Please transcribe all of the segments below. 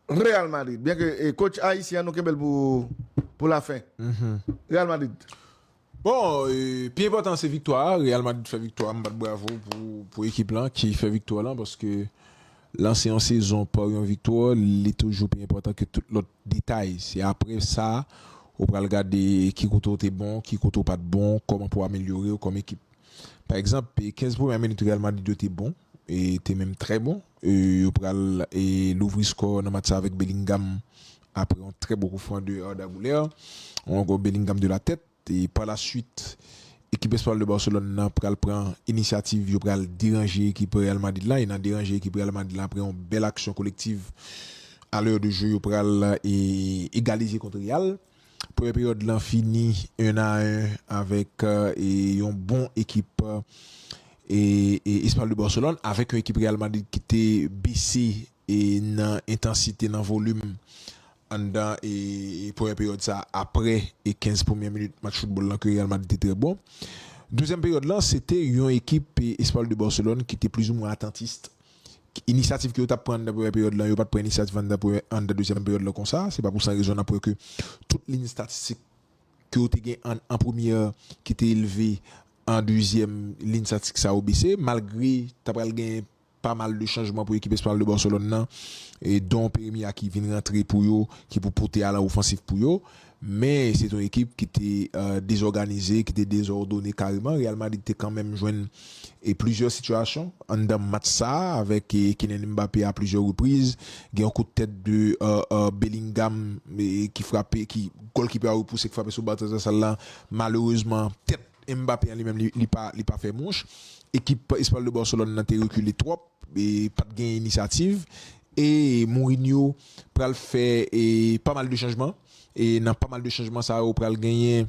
Real Madrid, byen ke e coach ayisyen an nou kenbe l pou pou la fen. Real Madrid. Bon, e, pi enpòtan an se viktwa a, Real Madrid fè viktwa a, m bat bravo pou pou ekip lan ki fè viktwa lan paske lanse yon sezon pa yon viktwa li toujou pi enpòtan ke tout lòt detay. Se aprè sa ou pral gade ki kote ou te bon, ki kote ou pat bon, kòman pou amelyore ou kòm ekip. Pa egzanp, 15 premyè minit Real Madrid yo te bon, te menm trè bon e yo pral louvri skò nan match sa avèk Bellingham aprè yon trè bon koufran de Arda Guler ou ankò Bellingham de la tèt e pa la swit ekip espanyòl de Barcelone nan pral pran inisyativ yo pral deranje ekip Real Madrid la e nan deranje ekip Real Madrid la aprè yon bèl aksyon kolektiv a lè de jwe yo pral egalize kont Real. Premye peryòd lan fini 1 a 1 avèk yon bon ekip Espanyòl de Barcelone avèk yon ekip Real Madrid ki te bese nan entansite, nan volim anndan premyè peryòd sa aprè 15 premyè minit match foutbòl lan ke Real Madrid te trè bon. Dezyèm peryòd lan se te yon ekip Espanyòl de Barcelone ki te plizoumwen atantis Inisyativ ke yo tap pran anndan premyè peryòd lan, yo pat pran inisyativ anndan premyè anndan dezyèm peryòd lan konsa, se pa pou san rezon nan pwè ke tout lin statistik ke yo te gen an an premyè ki te elve an dezyèm lin statistik sa yo bese malgre ta pral gen pa mal de chanjman pou ekip Espanyòl de Barcelone nan don Peremi a ki vin rantre pou yo ki pou pote alan ofansif pou yo Men, se t on ekip ki te dezòganize, ki te dezòdone kareman. Real Madrid te kanmenm jwenn plizyè sitiyasyon anndan match sa a avèk Kylian Mbappé a plizyè repriz. Gen yon kout tèt de Bellingham ki frape, ki gòlkipe a repouse, ki frape sou ba transvèsal la. Malerezman, tèt Mbappé an li menm li pa fè mouch. Ekip Espanyòl de Barcelone nan te rekile twòp. Pat gen inisyativ e Mourinho pral fè pa mal de chanjman e nan pa mal de chanjman sa yo pral genyen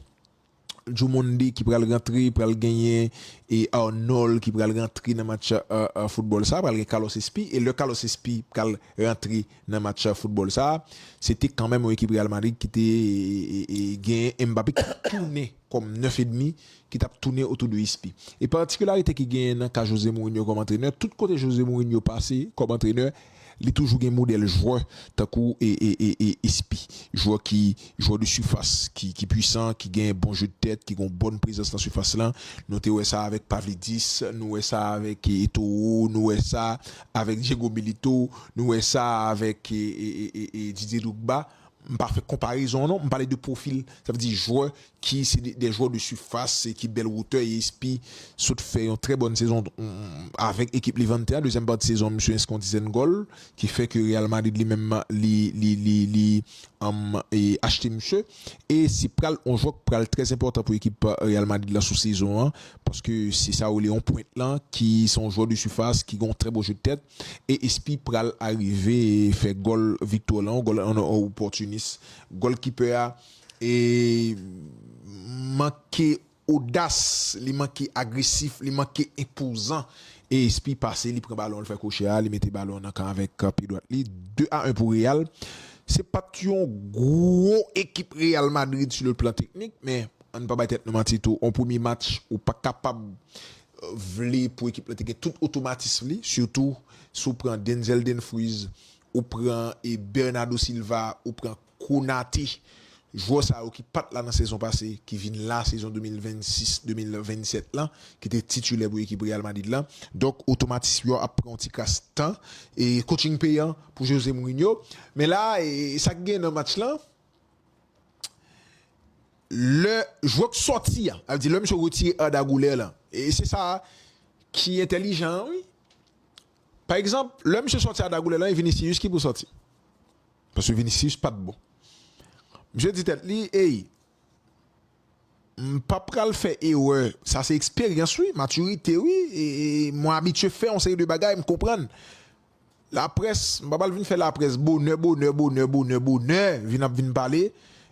Djoumondi ki pral rantre, pral genyen Arnold ki pral rantre nan match foutbòl sa, pral gen Carlos Espi e lè Carlos Espi pral rantre nan match foutbòl sa se te kanmèm yon ekip Real Madrid ki te genyen Mbappé ki tounen kòm 9 edmi ki t ap tounen otou de Ispi. E patikilarite ki genyen nan ka Jose Mourinho kòm antrenè, tout kote Jose Mourinho pase kòm antrenè, li toujou gen modèl jwè tankou Ispi. Jwè ki jwè de sifas ki ki pwisan, ki gen bon jeu de tèt, ki gen yon bòn prezans nan sifas lan. Nou te wè sa avèk Pavlidis, nou wè sa avèk Eto'o, nou wè sa avèk Diego Milito, nou wè sa avèk Didier Drogba. M pa fè konparezon non, m pale de pwofil, sa vle di jwè ki se de jwè de sifas se ki bèl wotè e espi sot fè yon trè bòn sezon avèk ekip Levante a dezyèm pati sezon an misye enski yon dizèn gòl ki fè ke Real Madrid li menm li li li li achte misye e se pral yon jwè ki pral trè enpòtan pou ekip Real Madrid la sou sezon an paske se sa yo rele yon pwent lan ki se yon jwè de sifas ki gen yon trè bon jeu de tèt e espi pral arive fè gòl viktwa lan yon gòl an opòtinis gòlkipè a. E manke odas, li manke agresif, li manke enpozan. E Espi pase, li pran balon, li fè kwochè a, li mete balon an nan kan avèk pye dwat li. 2 a 1 pou Real. Se pa t yon gwo ekip Real Madrid si le plan teknik, men ann pa bay tèt nou manti tou, yon premye match ou pa kapab vle pou ekip la te gen tout otomatism li, sitou si w pran Denzel Denfries, ou pran Bernado Silva, ou pran Konate, jwè sa yo ki pat la nan sezon pase ki vin la sezon 2026, 2027 lan, ki te titulè pou ekip Real Madrid lan. Donk otomatism yo ap pran yon ti kras tan. E coaching peyan pou Jose Mourinho. Men la, sa ki genyen nan match lan, lè jwè k sòti an, sa vle di lè misye retire Arda Güler lan, e se sa ki entèlijan an wi. Pa egzanp, lè misye sòti Arda Güler lan, e Vinicius ki pou sòti. Paske Vinicius pat bon. Misye di tèt li ey m pa pral fè erè. Sa se eksperyans wi, matirite wi. Mwen abitye fè yon seri de bagay m konprann. Laprès, m pa pral vin fè laprès bonè bonè bonè bonè bonè vin ap vin pale.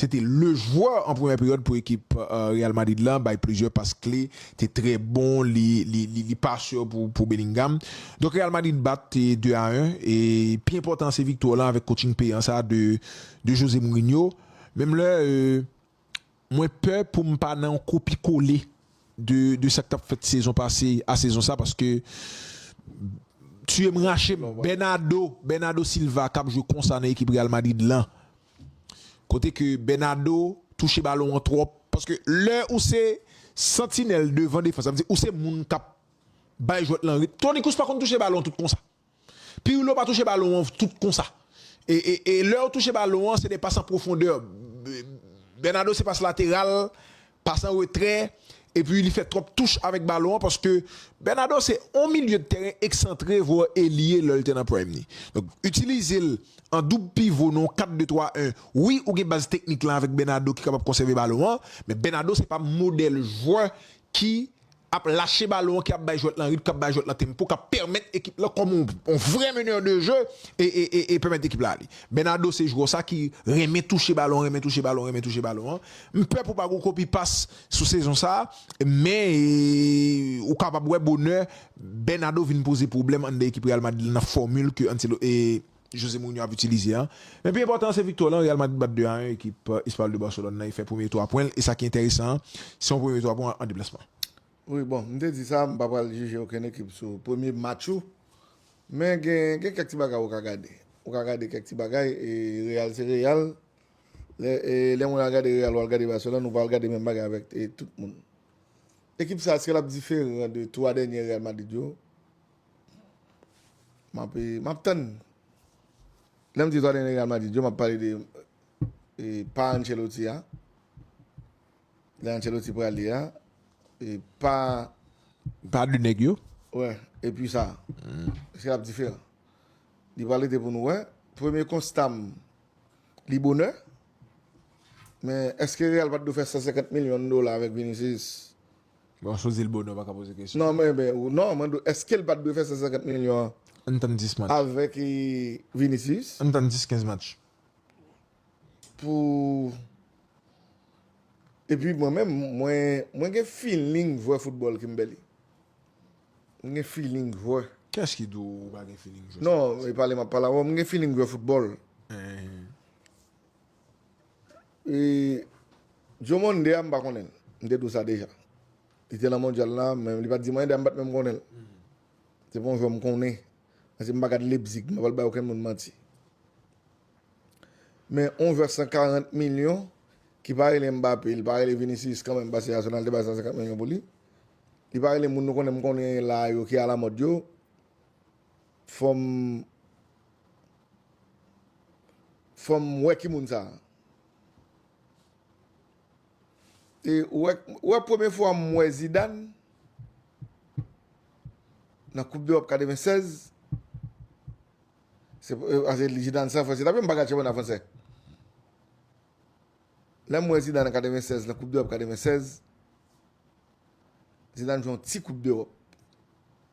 Se te le jwè an premyè peryòd pou ekip Real Madrid la bay plizyè pas kle, te trè bon, li pa sè pou Bellingham. Donk Real Madrid bat 2 a 1 e pi enpòtan an se viktwa lan avèk coaching peyan sa a de José Mourinho. Menm lè mwen pè pou m pa nan yon kopi kole de sa k t ap fèt sezon pase a sezon sa paske tiye m rache m Bernardo Silva k ap jwe konsa nan ekip Real Madrid lan Kote ke Bernado touche balon an twòp. Paske lè ou se santinèl devan defans, sa vle di ou se moun k ap bay jwèt lan ritm. Toni Kroos pa konn touche balon tout konsa. Pirlo pa touche balon an tout konsa. E lè yo touche balon an, se de pas an pwofondè. Bernado se pas lateral pas an retrè epi li fè twòp touch avèk balon an paske Bernado se yon milye de tèren eksantre vwa elye lè l te nan prime li. Donk itilize l an doub pivo nan yon 4 2 3 1 wi ou gen baz teknik lan avèk Bernado ki kapab konsève balon an men Bernado se pa modèl jwè ki ap lache balon an ki ap bay jwèt lan ritm, k ap bay jwèt lan tempo, k ap pèmèt ekip lan kòm yon vrè meneur de jeu e pèmèt ekip la ale. Bernardo se jwè sa ki renmen touche balon, renmen touche balon, renmen touche balon an. M pè pou pa gon kopi pas sou sezon sa, men ou kapab wè bonè Bernardo vin poze pwoblèm anndan ekip Real Madrid lan nan fòmil ke Ancelotti. José Mourinho ap itilize a. Men pi enpòtan an se viktwa lan, Real Madrid bat 2 a 1 ekip Espayòl de Barcelone lan e fè premye 3 pwen l e sa ki enteresan an se yon premye 3 pwen an deplasman. Wi bon, m te di sa, m pa pral jije okenn ekip sou premye match ou, men gen gen kèk ti bagay ou ka gade, ou ka gade kèk ti bagay e Real se Real, lè e lè moun al gade Real ou al gade Barcelone ou pa al gade menm bagay avèk tout moun. Ekip sa eske l ap diferan de 3 dènyè Real Madrid yo? Mbappe, map tann li. Lè m di zòrèy nèg Real Madrid yo, map pale de pa Ancelotti a. Lè Ancelotti prale a, e pa. Pa de nèg yo. Wè, epi sa. Eske lap diferan? Li pral rete pou nou wè. Premye konsta m, li bonè. Men, eske Real pat dwe fè 150 milyon dola avèk Vinicius? Bon chozi l bonè ou paka poze kesyon. Non mwen ben ou non mwen do eske l pat dwe fè 150 milyon an Ann tann 10 match. avèk Vinicius Ann tann 10 15 match. pou epi mwen menm mwen mwen gen feeling jwè football Kimberly m gen feeling jwè Kiyès ki di w ou pa gen feeling jwè non e pale map pale avè w m gen feeling jwè football. E Joe Monday a m pa konnen l. M te di w sa deja. Li te nan mondyal la, men li pa t di m anyen. Dayè m pa t menm konnen l. Se pa yon jwè m konnen. Paske m pa gad Leipzig. M pa pral bay okenn moun manti. Men yon jwè 140 milyon ki pa rele Mbappé, li pa rele Vinicius kanmenm paske Arsenal te bay 150 milyon pou li. Li pa rele moun nou konnen m konnen la yo ki alamòd yo. Fom Fom we ki moun sa. E ou wè premye fwa m wè Zidane nan koup d'Europe 96 se pase Zidane se an fransè tanpri m pa gad chanpyona fransè lè m wè Zidane an 96 nan koup d'Europe 96 Zidane jwe yon ti koup d'Europe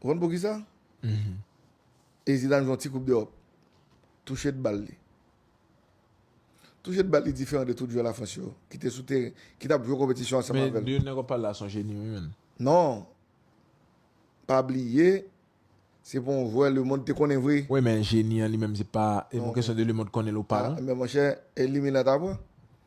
Ou konn poukisa? E Zidane jwe yon ti koup dEròp. Touche de bal li. Touche de bal li diferan de tout jwè Lafrans yo ki te sou teren, ki t ap jwe konpetisyon ansanm avè l. Men de nèg w ap pale la se yon jeni wi menn. Non. Pa bliye, se pa yon jwè lemond te konnen vre. Wi men jeni an li menm se pa, e pou kesyon de lemond konnen l ou pa non. Men monchè, e Limena ta pran?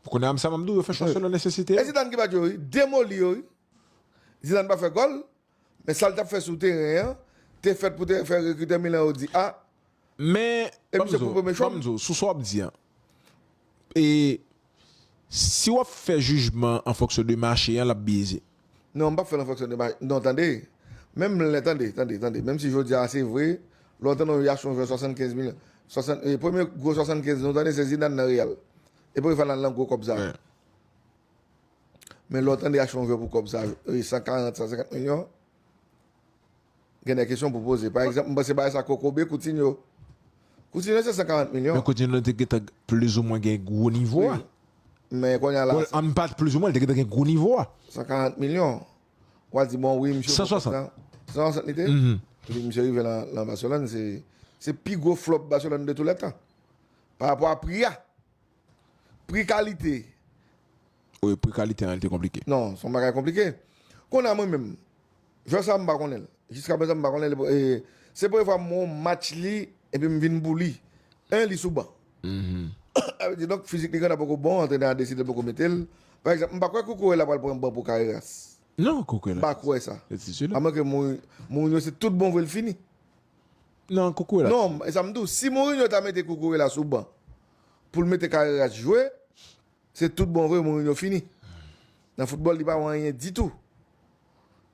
Pou kounye a m sa map di w yo fè chwa selon nesesite yo. E Zidane ki bat yo wi, demoli yo wi. Zidane pa fè gòl, men sa l tap fè sou teren an te fèt pou te fè rekritè Milan yo di a. Men, ban m di w, ban m di w, sou sa w ap di an, e si w ap fè jijman an fonksyon de mache an l ap byeze. Non, m pap fè l an fonksyon de maj. Non, tande! Menm lè, tande, tande, tande, menm si jodi a se vre, lè w tande yon Yash yon jwè 75 milyon, 60, e premye gwo 75 nou tande se Zidane nan Real. E pou ki fè l al nan gwo kòb sa yo? Men lè w tande Yash yon jwè pou kòb sa yo, 140, 150 milyon, Gen de kesyon pou poze. Pa egzanp, m panse bagay sa kokobe Coutinho. Coutinho se 140 Men milyon. Coutinho te gentan plizoumwen gen gwo nivo a. Wi, men kounye a la. Bon, an pa di plizoumwen, li te gentan gen gwo nivo a. 140 milyon. Ou al di bon wi misye. 160. 160 li te? Epi misye rive lan Barcelone se pi gwo flop Barcelone de tou lè tan. Parapò a pri a. Pri kalite. Wi pri kalite an li te konplike. Non son bagay konplike. Konnya mwen menm jwè sa mpa konnen l. Jiska prezan mpa konnen l e se premye fwa m wè yon match li epi m vin pou li. 1 li sou ban. Sa vle di donk fizik li grandè poko bon antrenè a deside l poko mete l. Pa egzanp mpa kwè Cucurella pral pran ban pou Carreras. Non Cucurella. Mpa kwè sa. Se titilè. A mwen ke Mourinho se tout bon vre l fini. Non Cucurella. Non e sa m di w si Mourinho ta mete Cucurella sou ban. poul mete Carreras jwe se tout bon vre Mourinho fini nan football li pa wè anyen ditou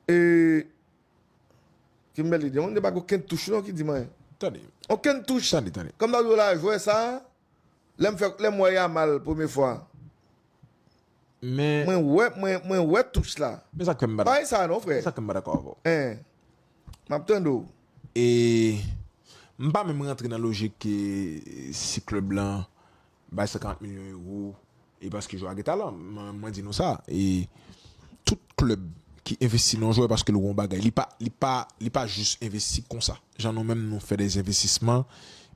e Kimberly di mwen pa gen okenn touch non ki di mwen Tande Okenn touch Tande tande Kòm nan jwè la jwè sa lèm fè lèm wè Yamal premye fwa Men. Mwen wè, mwen wè touch la. Men sak fè m pa dakò. Bay sa non frè. Men sak fè m pa dakò avè w. Hein. Map tande w. E m pa menm rantre nan lojik ke si klèb lan bay 50 milyon euro e paske jwè a gen talan. Mwen di nou sa, e tout klèb ki envesti nan yon jwè paske l wè yon bagay, li pa, li pa, li pa jis envesti konsa. Jan nou menm nou fè dè envestisman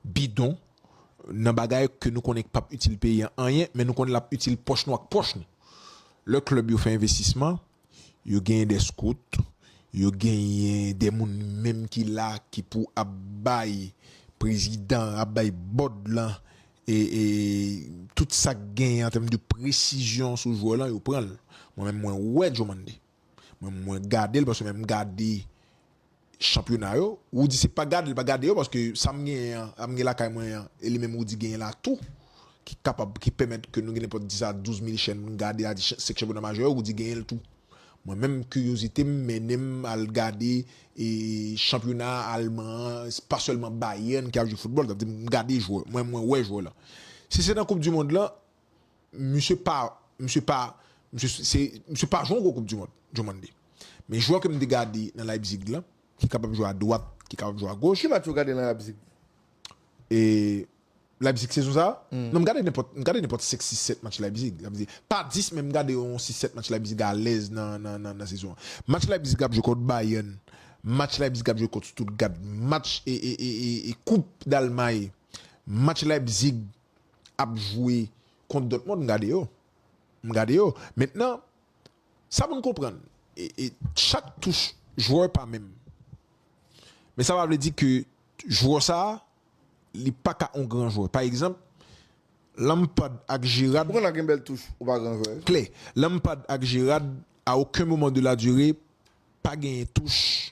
bidon. nan bagay ke nou konnen k pap itil peyi an anyen men nou konnen lap itil pòch nou ak pòch nou. Lè klèb yo fè envestisman, yo genyen dè skout, yo genyen dè moun menm ki la ki pou ap bay prezidan an, ap bay bòd lan e tout sak genyen an tèm de presizyon sou jwè lan yo pran l. Mwen menm mwen wè Jomande. Mwen mwen gadel paske menm gade chanpyona yo Roody se pa gadel pa gade yo paske sam genyen an sam gen lakay mwen an e li menm Roody genyen la tou ki kapab ki pèmèt ke nou gen nenpòt 10 a 12 mil chèn pou nou gade a 5 chanpyona majè yo Roody genyenl tou mwen menm kiryozitem mennenm al gade e chanpyona alman an pa sèlman Bayern ki ap jwe foutbòl sa vle di m gade jwè mwen mwen wè jwè la si se nan koup di mond lan Misye pa, misye pa, misye se, misye pa jwe yon gwo koup du mond, Diomande. Men jwè ke m te gade nan Leipzig lan, ki kapab jwe a dwat, ki kapab jwe a goch. Ki match ou gade nan Leipzig? E, Leipzig sezon sa a? Non m gade nenpòt, m gade nenpòt 5, 6, 7 match Leipzig. Sa vle di, pa 10 men m gade yon 6, 7 match Leipzig alèz nan, nan, nan, nan sezon an. Match Leipzig ap jwe kont Bayern, match Leipzig ap jwe kont Stuttgart, match e, e, e, e, e koup Dalmay, match Leipzig ap jwe kont Dòtmond m gade yo m gade yo mentnan sa pou n konprann chak touch jwè pa menm men sa pa vle di ke jwè sa li pa ka yon gran jwè pa egzanp Lampard ak Gerrard pou konn gen bèl touch ou pa gran jwè klè Lampard ak Gerrard a oken moman de la dire pa genyen touch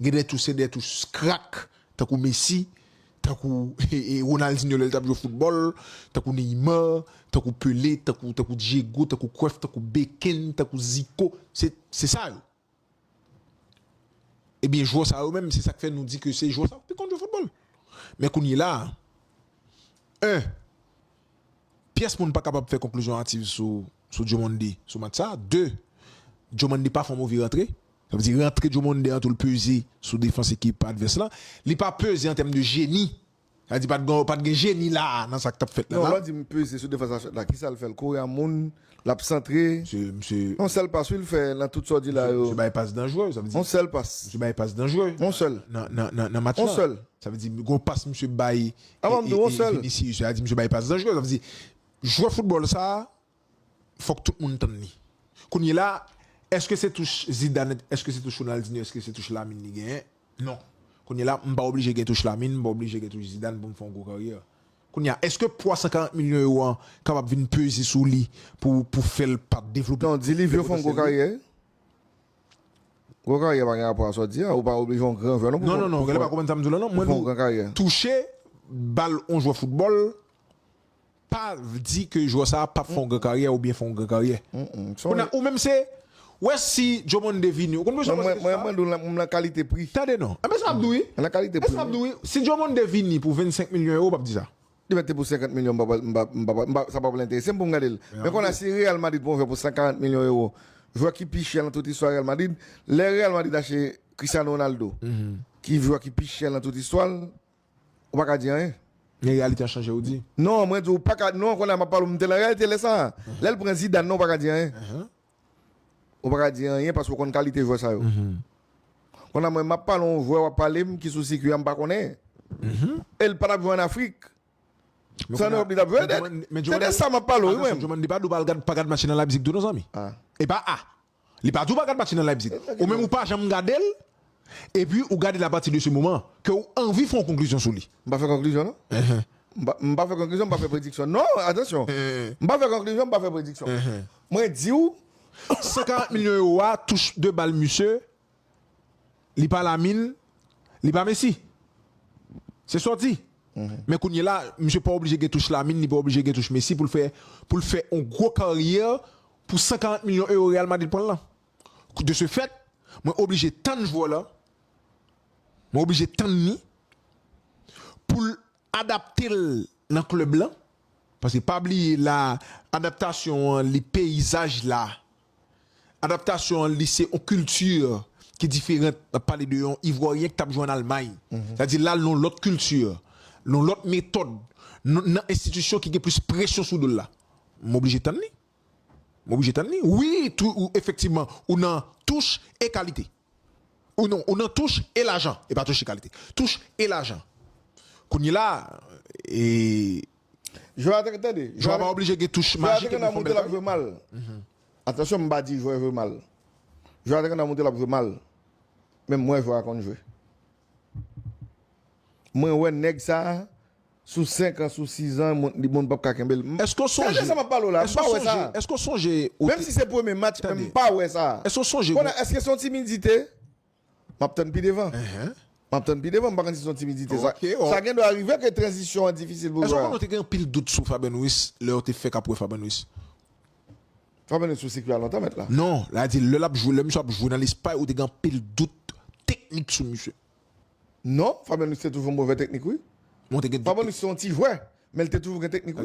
Gen de touch se de touch krak tankou Messi, tankou Ronaldinho lè l t ap jwe foutbòl, tankou Neymar, tankou Pelé, tankou tankou Diego, tankou Cruyff, tankou Becken, tankou Zico, se se sa yo. Ebyen jwè sa yo menm se sa k fè nou di ke se jwè sa yo k pi konn jwe foutbòl. Men kounyela a, 1, pyès moun pa kapab fè konklizyon ativ sou sou Diomande sou match sa a, 2, Diomande pa fè yon move rantre, Sa vle di rantre Joe Monday an tou l peze sou defans ekip advès lan. Li pa peze an tèm de jeni. Sa vle di pa t gon pa t gen jeni la a nan sa k t ap fèt la la. Non, lè w di m peze sou defans advès la, ki sa l fè? L kouri a moun, l ap santre. Misye, misye. On sèl pas wi l fè nan tout sa w di la yo. Misye bay pas danjre, sa vle di. On sèl pas. Misye bay pas danjre. On sèl. Nan, nan, nan, nan match la. On sèl. Sa vle di gon pas misye bay. Avan m di w on sèl. Vinicius, sa vle di misye bay pas danjre. Sa vle di jwè foutbòl sa a. fòk tout moun tann li. Kounye la, èske se touch Zidane, èske se touch Ronaldinho, èske se touch Lamine li genyen? Non. Kounye la, m pa oblije gen touch Lamine, m pa oblije gen touch Zidane pou m fè yon gwo karyè. Kounye a, èske pwa 140 milyon ewo an kapab vin peze sou li pou fè l pa devlope pwotansyèl li? Non, di Livio fè yon gwo karyè. Gwo karyè pa gen rapò a sa w di a. Ou pa oblije yon gran jwè non pou fè yon gwo karyè. Non, non, non, gade pa konprann sa m di w la non. Mwen di w touche bal yon jwè foutbòl. pa di ke jwè sa pap fè yon gran karyè ou byen fè yon gran karyè ou menm se wè si Jomond de vini ou konn poukisa mwen mwen mande w lan nan kalite pri tande non e men sa map di w wi nan kalite pri e sa map di w wi si Jomond de vini pou 25 milyon euro ou pap di sa li mèt te pou 50 milyon m pap m pap m pap sa pap enterese m pou m gade l men konn a si Real Madrid pran yon jwè pou 140 milyon euro jwè ki pi chè nan tout istwa Real Madrid lè Real Madrid achte Cristiano Ronaldo ki jwè ki pi chè nan tout istwa l Ou pa ka di anyen. Men reyalite a chanje ou di. Non mwen di ou pa ka non kounye a m ap pale ou m te nan reyalite lè sa a. Lè l pran Zidane nan ou pa ka di anyen. Ou pa ka di anyen paske ou konn kalite jwè sa yo. Kounye a mwen m ap pale yon jwè w ap pale m ki sou sikui a m pa konnen. E l pa t ap jwe ann Afrik. Se ann Ewòp li t ap jwe. Se de sa m ap pale ou wi mwen. Menm Djomandi pa di ou pa gad match li nan Leipzig tou non zanmi. E pa a. Li pa di ou pa gad match nan Leipzig. Ou menm ou pa janm gade l, epi ou gade l apati de se moman ke ou anvi fè yon konklizyon sou li. M pa fè konklizyon non. M pa m pa fè konklizyon, m pa fè prediksyon non, atansyon. M pa fè konklizyon, m pa fè prediksyon. Mwen di ou. 140 milyon ewo a, touche de bal misye. Li pa la min, li pa Messi. Se sa w di. Men kounye la, misye pa oblije gen touch Lamine, li pa oblije gen touch Messi pou l fè pou l fè yon gwo karyè pou 140 milyon ewo Real Madrid pran l lan. De ce fait, mwen oblije tann jwè w lan, mwen oblije tann li pou l adapte l nan club lan, paske pa bliye la adaptasyon an li peyizaj la Adaptasyon an li se yon kilti ki diferant. N ap pale de yon Ivwòryen ki t ap jwe ann Almay. Sa di l al nan yon lòt kilti, nan yon lòt metòd, nan enstitisyon ki gen plis presyon sou do l la. M oblije tann li. M oblije tann li. Wi, efektivman, ou nan touch e kalite. Ou non, ou nan touch e lajan. E pa touch e kalite. Touch e lajan. Kounye la, e. Jwè a te gen, tande. Jwè a pa oblije gen touch majik epi l fè yon bèl kari. Atansyon m pa di jwè jwe mal. Jwè a te gen nan moute l ap jwe mal. Men m wè jwè a konn jwe. Mwen wè nèg sa a. Sou 5 ans sou 6 ans li moun pap ka kenbel. Eske w sonje. Tande sa map pale w la, m pa wè sa. Eske w sonje ou te. Menm si se premye match Tande. M pa wè sa. Eske w sonje. Konnen eske se yon timidite? Map tann pi devan. Map tann pi devan m pa konn si se yon timidite sa. Sa gen dwa rive ke tranzisyon an difisil pou jwè a. Eske w konnen ou te gen anpil dout sou Fabian Ruiz lè ou te fèk ap wè Fabian Ruiz? Fabian Ruiz sou sikwi a lontan mèt la. Non, la di lè lap jwe, lè misye ap jwe nan lespay ou te gen anpil dout teknik sou misye. Non, Fabyanous te toujou yon move teknik wi. Fabyanous se yon ti jwè, men li te toujou gen teknik wi.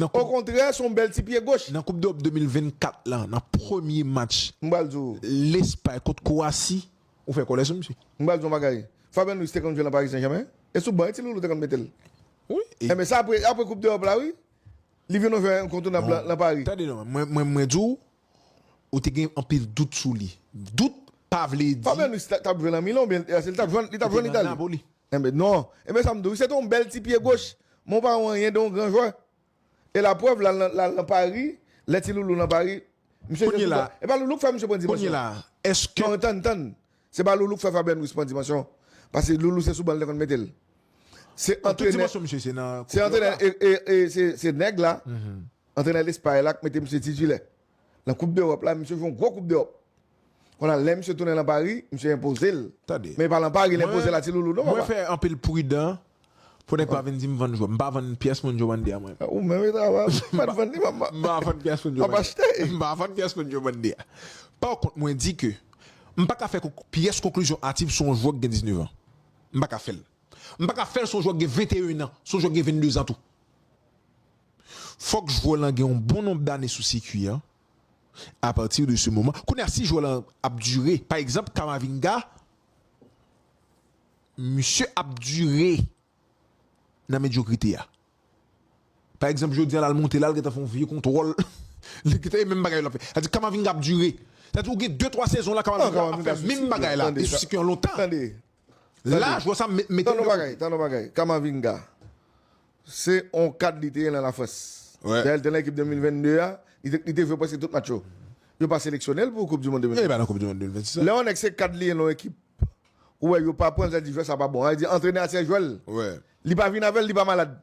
Okontrè, se yon bèl ti pye goch. Nan koup dEròp 2024 lan, nan premye match Lespay kont Kowasi, ou fè kòlè sou misye. M pral di w yon bagay, Fabyanous te konn jwe lan Paris Saint Germain, e sou ban wi ti Loulou te konn mete l. Enben sa apre koup dEròp la wi, li vin yon jwè enkontounab lan Paris. Tande non, mwen di w, ou te gen anpil dout sou li. Dout pa vle di. Fabian Ruiz t ap jwe nan Milan oubyen li t ap jwe nan Itali? Enben non. Enben sa m di w. Se te yon bèl ti pye goch. Men w pa wè anyen de yon gran jwè. E la prèv la l nan Pari, lè ti Loulou nan Pari, misye jwe sou ban. E pa Loulou k fè misye pran dimansyon. Kounye la, èske. Non, tann, tann. Se pa Loulou k fè Fabian Ruiz pran dimansyon. Pase Loulou se sou ban li te konn mete l. Se antrenè. Tout dimansyon misye se nan. Se antrenè e se nèg la Antrenè Lespay la k mete misye titilè nan koup dEròp la, misye jwe yon gwo koup dEròp. Konnya lè misye tounen lan Pari, misye enpoze l. Tande. Men e pa lan Pari l enpoze la ti loulou non papa. Mwen fè anpil pridan pou nèg pa vin di m vann jwè m. M pa vann pyès moun Diomande a mwen. Ou menm e travay ou, m pat vann li map M pa vann pyès moun Diomande. Map achte. M pa vann pyès moun Diomande a. Pa kont mwen di ke m pa ka fè pyès konklizyon ativ sou yon jwè ki gen 19 an. M pa ka fè l. M pa ka fè l sou yon jwè ki gen 21 an, sou yon jwè ki gen 22 zan tou. fòk jwè lan gen yon bon nonb dane sou sikui an apati de se moman kounye a si jwè lan ap dire pa egzanp Kamavinga misye ap dire nan medyokrite a pa egzanp jodi a lal monte la li gentan fè yon vye kontwòl li gentan e menm bagay lap fè sa vle di Kamavinga ap dire sa vle di ou gen de twa sezon la Kamavinga ap fè menm bagay la e sou sikui an lontan. Laj wè sa mete Tande yon bagay, tande yon bagay, Camavinga se yon kad li te ye nan Lafrans. Dayè li te nan ekip 2022 a, li te jwe prèske tout match yo. Yo pa seleksyone l pou koup di mond 2026 la. Li pa nan koup di mond 2026 la. Lè yon nèg se kad li ye nan yon ekip, ou wè yo pa pran l, yo di jwè sa pa bon. Sa vle di antrenè a se jwè l. Li pa vini avè l, li pa malad.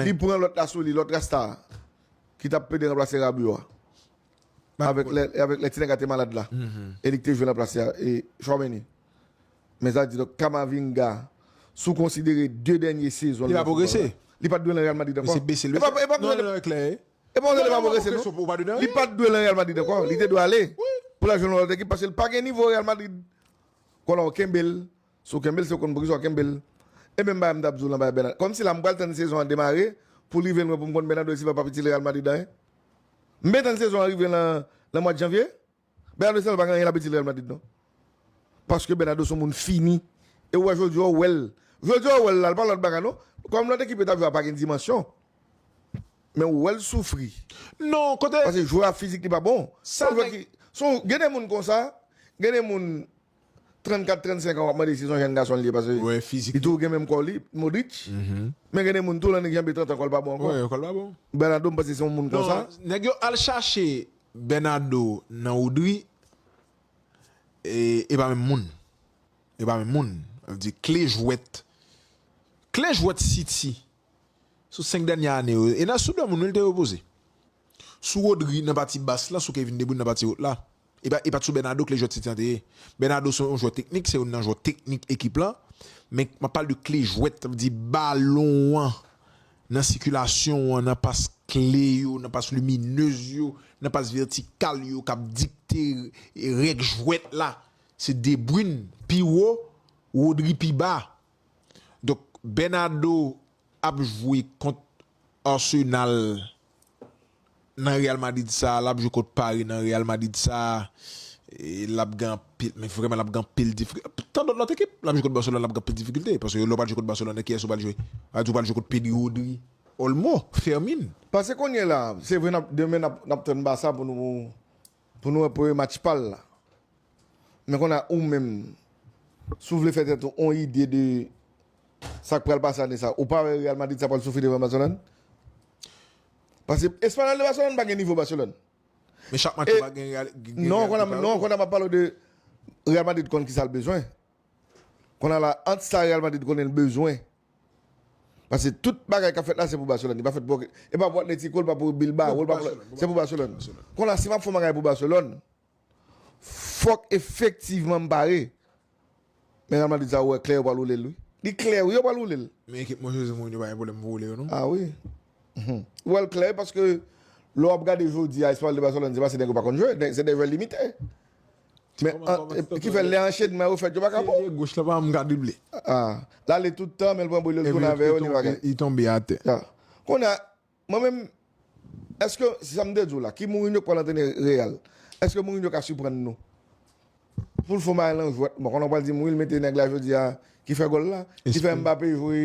Li pran lòt la sou li, lòt rasta a, ki t ap plede ranplase Rabio a, avèk lè ti nèg la te malad la, e li ki te jwe ranplase Tchouameni. Men sa di, donk Kamavinga, si w konsidere 2 dènye sezon l nan foutbòl la, li pa t dwe nan Real Madrid ankò. E pa w konnen li pa pwogrese non. Li pa t dwe nan Real Madrid ankò. Li te dwe ale pou l al jwe nan yon lòt ekip, paske li pa gen nivo Real Madrid. Konnen w kenbe l, Si w kenbe l, si w konn poukisa w kenbe l. E menm bagay m t ap di w lan bagay Bernardo. Kòmsi la m pral tann sezon an demare pou l rive lwen pou m konn Bernardo Silva pa p itil Real Madrid anyen? M ben tann sezon an rive lan mwad janvye? Bernardo Silva pa gen anyen l ap itil Real Madrid non. Paske Bernardo s on moun fini. E ou wè jodi a ou wè l. Jodi a ou wè l la, l pa lòt bagay non. Kòm lòt ekip yo t ap jwe a pa gen dimansyon. Men ou wè l soufri. Non, kote. Paske jwè a fizik li pa bon. Sa nèg. Gen de moun konsa, gen de moun 34 35 an wap mande si son jèn gason li ye pase li tou gen menm kò li Modric men gen de moun tou lan nèg janbe 30 an kòl pa bon ankò Bernado m panse se yon moun konsa nèg yo al chache Bernado nan Rodri e pa menm moun e pa menm moun vle di kle jwèt kle jwèt City. Sou 5 dènyè ane yo, Enas sou 2 moun wi l te repoze. Sou Rodri nan pati bas la, sou Kevin De Bruyne nan pati wot la. E pa t sou Bernardo kle jwè City an te ye. Bernardo se yon jwè teknik, se youn nan jwè teknik ekip la, men m ap pale de kle jwèt, sa vle di balon an nan sikilasyon an, nan pas kle yo, nan pas liminez yo, nan pas vètikal yo k ap dikte règ jwèt la. Se De Bruyne pi wo, Rodri pi ba. Donk Bernardo ap jwe kont Arsenal nan Real Madrid sa, lap jwe kont Paris nan Real Madrid sa, lap gen anpil, men vrèman lap gen anpil difikilte, tandon lòt ekip, lap jwe kont Barcelone lap gen anpil difikilte, paske lè w pral jwe kont Barcelone kiyès ou pral jwe? A di w pral jwe kont Pedri, Rodri, Olmo, Fermin. Pase kounyela, se vre nap demen nap tann Barça pou nou Pou nou wè premye match pal la. Men konn a ou menm si w vle fè tèt ou on ide de sa k pral pase ane sa, ou pa wè Real Madrid sa pral soufri devan Barcelone? Paske Espanyòl de Barcelone pa gen nivo Barcelone. Men chak match yo pa gen Real ki prepare yo tou? Non konn a m ap pale w de Real Madrid konn ki sa l bezwen. Konn a la ant sa Real Madrid konnen l bezwen Pase tout bagay kap fèt la se pou Barcelone li pa fèt pou okenn e pa pou Atletico li pa pou Bilbao li pa pou se pou Barcelone kon la si map fon bagay pou Barcelone fòk efektivman m pare men Real Madrid sa ou wè klè yo pral woule l wi li klè wi yo pral woule l men ekip mwen Jose Mourinho pa gen pwoblèm pou woule yo non a wi ou wèl klè paske lè wap gade jodi a Espanyòl de Barcelone se pa se nèg yo pa konn jwe se de jwè limite Men, ki fè lè anchenman yo fèt yo pa ka bon? Pye goch la pa janm ka double. A, l'ale tout tan men l' pran bri l' yo tounen avè yo ni bagay. Li tonbe atè. A, kounye a, mwen menm, èske, se sa m' te di w' la, ki Mourinho k' pral antrene Real? Èske Mourinho ka siprann nou? Pou l' fon bagay lan jwèt, bon, konnen w' pral di m' wi l' mete nèg la jodi a ki fè gòl la, ki fè Mbappé jwe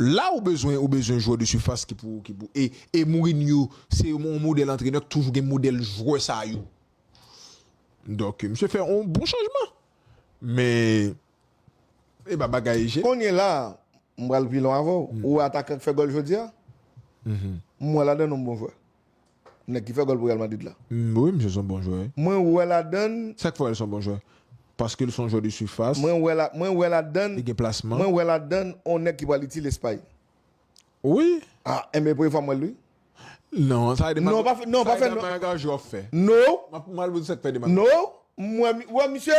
la ou bezwen ou bezwen jwè de sifas ki pou ki pou e e Mourinho se yon modèl antrenè ki toujou gen modèl jwè sa yo donk misye fè yon bon chanjman men epa bagay je. Kounye la a m pral pi lwen avè w ou wè atakan ki fè gòl jodi a m wè ladan l yon bon jwè Nèg ki fè gòl pou Real Madrid la. M wi misye son bon jwè. Mwen wè ladann. Sak fè wè l son bon jwè? Paskel son jwè de surface. Mwen wè la mwen wè ladann. Li gen plasman. Mwen wè ladann on nèg ki pral itil Espay. Wi. Ah enben e premye fwa m wè l wi. Non sa e dema. Non pa fè non pa fè non. Sa e dema gajo ap fè. No. Map mal bout sak fè dema. No m wè m wè misye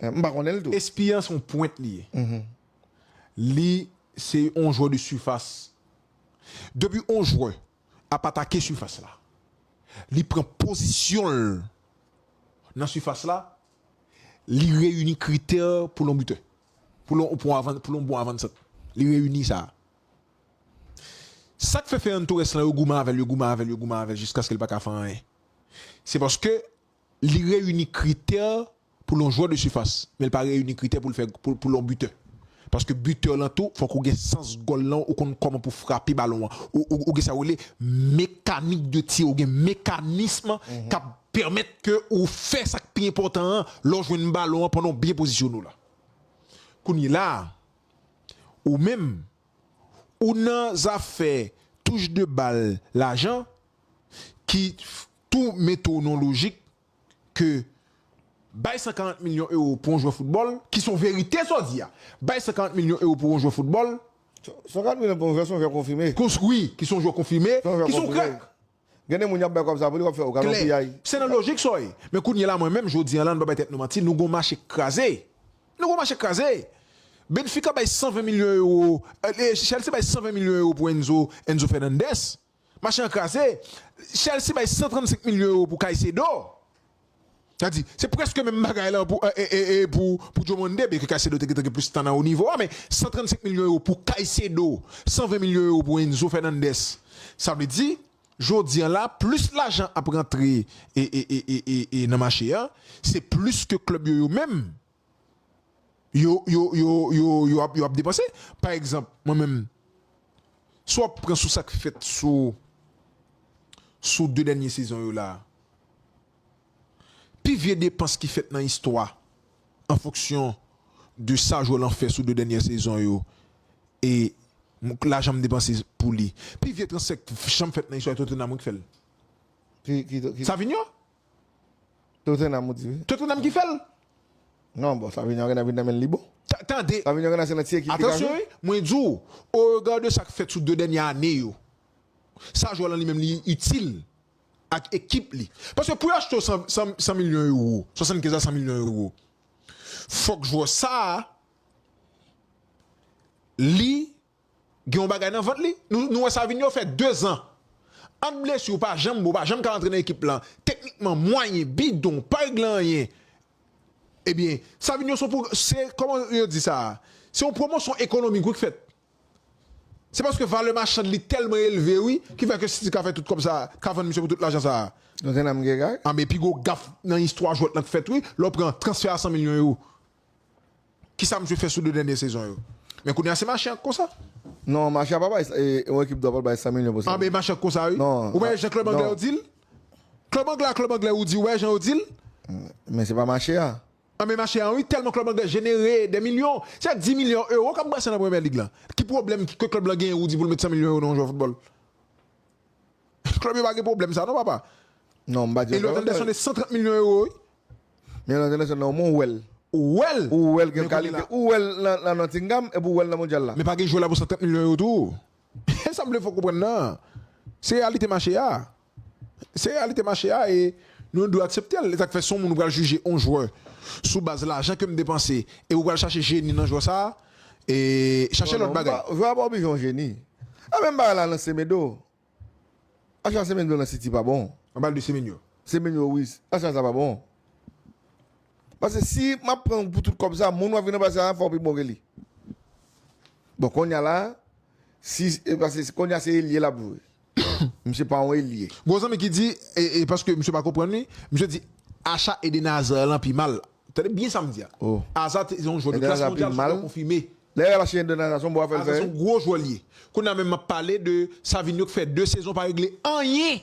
M pa konnen l tou. Espia se yon pwent li ye. Li se yon jwè de sifas. Depi yon jwè ap atake sifas la, li pran pozisyon l nan sifas la, li reyini kritè pou l yon bitè. Pou l yon bon avansant. Li reyini sa. Sa k fè Ferran Torres lan yo goumen avè l, yo goumen avè l, yo goumen avè l jiskaske l pa ka fè anyen. Se paske Li reyini kritè pou l yon jwè de sifas, men li pa reyini kritè pou l fè pou l yon bitè. Paske bitè lan tou fòk ou gen sans gòl lan, ou konn kòman pou frape balon an. Ou gen sa yo rele mekanik de tir, ou gen mekanism k ap pèmèt ke ou fè sa k pi enpòtan an lè w jwenn balon an pandan w byen pozisyone w la. Kounyela a, ou menm, ou nan zafè touche de bal lajan ki tou metwonolojik ke bay 140 milyon ewo pou yon jwè foutbòl, ki son verite sa w di a, bay 140 milyon ewo pou yon jwè foutbòl, 140 milyon pou yon jwè son jwè konfime. Wi, ki son jwè konfime, ki son krèk. Gen de moun y ap bay kòb sa pou li, w ap fè, ou ka nan piyay. Se nan lojik sa w ye. Men kounye la mwen menm, jodi an la, nou pa bay tèt nou manti, nou gen yon mache k kraze. Nou gen yon mache k kraze. Benfica bay 120 milyon ewo, Chelsea bay 120 milyon ewo pou Enzo, Enzo Fernandez. Mache an kraze, Chelsea bay 135 milyon euro pou Caicedo. Sa di, se prèske menm bagay lan pou pou Diomande, byenke Caicedo te gentan gen plis tan nan wo nivo a, men 135 milyon euro pou Caicedo, 120 milyon euro pou Enzo Fernandez. Sa vle di, jodi an la, plis lajan ap rantre nan mache a, se plis ke klèb yo yo menm yo yo yo yo yo ap yo ap depanse pa egzanp mwen menm si w ap pran sou sak fèt sou sou 2 dènye sezon yo la pi vye depans ki fèt nan istwa an fonksyon de sa jwè lan fè sou 2 dènyè sezon yo e lajan m depanse pou li pi vye transfè k janm fèt nan istwa e Tottenham wi k fè l Savigno Tottenham ou di wi. Tottenham ki fèl? Non bon Savinho a genlè vin nan menl li bon. Tande! Savinho genlè se nan ti ekip li ka Atansyon jwe. wi, mwen di w, au regard de sa k fèt sou 2 dènye ane yo, sa jwè lan li menm li itil ak ekip li. Paske pou yo achte w 100 milyon euro, 75 a 100 milyon euro, fòk jwè sa li. gen yon bagay nan vant li, nou wè Savinho fè 2 zan ant blesi ou pa janm bon, ou pa janm ka rantre nan ekip lan, teknikman mwayen, bidon, ou pa regle anyen, ebyen Savinho son pwog se kòman yo di sa, se yon pwomosyon ekonomik wi k fèt, se paske valè machand li tèlman elve wi ki fè ke City ka fè tout kòb sa, ka vann misye pou tout lajan sa. Anben pi gwo gaf nan istwa jwèt lan k fèt wi, lè w pran transfè a 100 milyon ewo. Kisa misye fè sou 2 dènye sezon yo? Men kounye a se mache an k konsa. Non, mache a pa bay sa, yon ekip dwa pa bay 100 milyon pou sa. Anben e mache an k konsa wi. Non. Ou pa wè jan klèb anglè yo di l? Klèb anglè a klèb anglè ou di wè jan yo di l? Men se pa mache a. Anben mache an wi, tèlman klèb anglè jenere dè milyon, se 10 milyon ewo k ap brase nan premyè lig lan. Ki pwoblèm ke klèb lan genyen ou di pou l met 100 milyon ewo nan yon jwè foutbòl? Klèb yo pa gen pwoblèm sa non papa. Non, m pa di yo. Elliot Anderson e 130 milyon ewo wi. Men nan entènasyonal la omwen ou wè l. Ou wè l! Ou wè l gen kalite. Ou wè l nan Nottingham epi ou wè l nan Mondyal la. Men pa gen jwè la pou 130 milyon yo tou. E sa m vle fè w konprann nan, se reyalite mache a. Se reyalite mache a e nou dwe aksepte l. E sa k fè si yon moun pral jije yon jwè sou baz lajan ke m depanse e ou pral chache jeni nan jwè sa, ee chache lòt bagay. Jwè a pa oblije yon jeni. E menm bagay la nan Semedo. Achat semen blan nan city pa bon. An pale de semen yo. Semen yo wi, achat sa pa bon. Pase si map pran ou pou tout kob sa, moun wap vin anba sa a fow pi bon ke li. Bon konnya la, si pase konnya se elye lap jwe. Misye pa yon elye. Gon zanmi ki di, e paske misye pa konprann li, misye di achat ede Nazer lan pi mal la. Tande byen sa m di a. Aza se yon jwè de klas mondyal sou tè konfime. Aza se yon gwo jwè li ye. Kounye a menm m ap pale de Savinho ki fè 2 sezon pa regle anyen.